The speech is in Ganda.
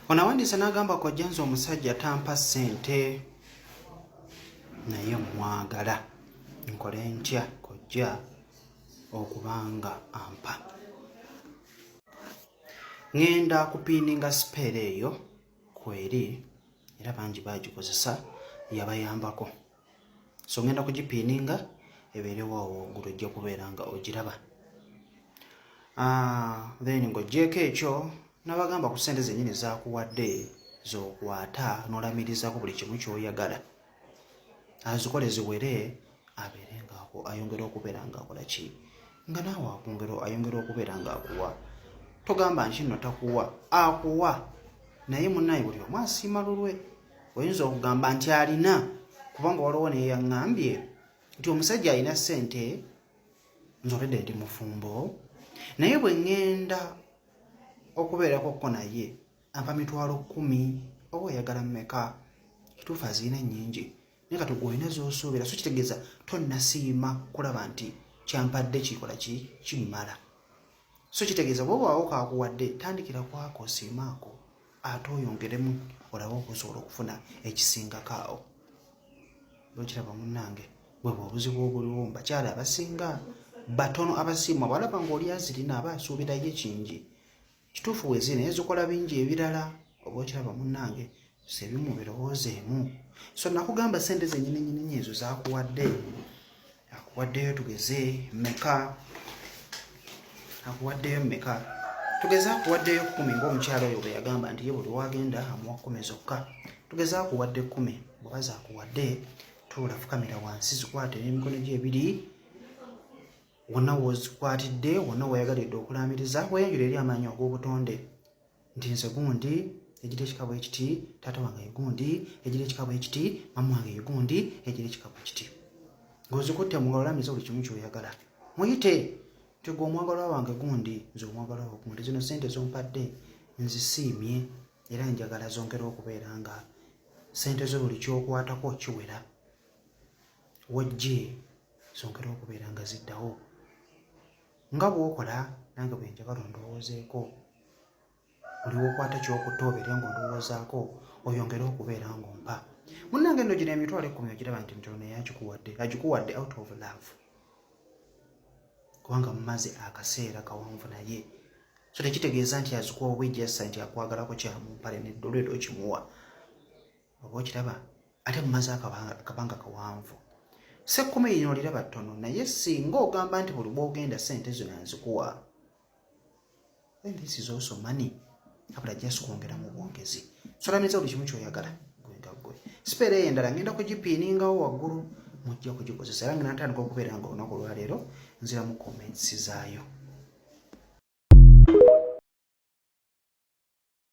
ono awandiise n'agamba kojja nze omusajja tampa ssente naye mwagala nkole ntya kojja okubanga ampa ŋenda kupiininga sipeera eyo kweri era bangi bagikozesa yabayambako so ngenda kugipiininga ebeerewo awo waggulu ojja kubeera nga ogiraba ah, then ng'ogyeko ekyo nabagamba ku sente zenyini zakuwadde zokwata nolamirizako buli kimu kyoyagala azikole ziwere abeere ngaako ayongere okubeera ngaakola ki nga naawe akungero ayongere okubeera ngaakuwa togamba nkinno takuwa akuwa naye munaye buli omu asiima lulwe oyinza okugamba nti alina kubanga waliwo neyaŋambye nti omusajja alina sente nzolede ndi mufumbo naye bwe ŋŋenda okubeerako kko naye ampa mitwalo kkumi oba oyagala mumeka kituufu aziina nnyingi naye kati gwolina zosuubira so kitegeeza tonnasiima kulaba nti kyampadde kikola ki kimmala so kitegeeza bwoba wawo kakuwadde tandikira kwako osiimaako ate oyongeremu olabe okusobola okufuna ekisingako awo nokiraba munange bwebwe obuzibu obuliwo mubakyala abasinga batono abasiimwa bwalaba nga oli azirina aba asuubirayo ekingi kituufu wezi naye zikola bingi ebirala oba okiraba munange sebimu birowooza emu so nakugamba sente zenyininyininya ezo zakuwadde akuwaddeyo tugeze meka akuwaddeyo meka tugeze akuwaddeyo kumi ngaomukyalo oyo bweyagamba nti ye buli wagenda amuwa kumi zokka tugeze akuwadde kumi bwebaza akuwadde tuula fukamira wansi zikwate n'emikono gyo ebiri wonna wozikwatidde wonna weyagalidde okulaamiriza weyanjula eri amaanyi ag'obutonde nti nze gundi egira ekika bwe kiti taata wange ye gundi egira ekika bwe kiti maama wange ye gundi egira ekika bwe kiti ng'ozikutte mu ngalo olamiza buli kimu ky'oyagala muyite nti gwe omwagalwa wange gundi nze omwagalwa wa gundi zino ssente zompadde nzisiimye era njagala zongera okubeera nga ssente zo buli kyokwatako kiwera wajje zongere okubeera nga ziddawo nga bwokola nange bwe njagala ondowoozeeko buli wokwata kyokuta obeere nga ondowoozaako oyongere okubeera ng'ompa munnange nno gino emitwalo ekkumi ogiraba nti mitono naye agikuwadde agikuwadde out of love kubanga mumaze akaseera kawanvu naye so tekitegeeza nti azikuwa obwejjassa nti akwagalako kyamumpale neddolwera okimuwa oba okiraba ate mumaze akabanga kawanvu sekkumi lino oliraba ttono naye singa ogamba nti buli bwogenda sente zino nzikuwa then this is also money abula just kwongera mu bwongezi solamiza buli kimu kyoyagala gwenga gwe sipeera eyo endala ngenda kugipiiningawo waggulu mujja kugikozesa era nga natandika okubeera nga olunaku olwaleero nziramu comments zaayo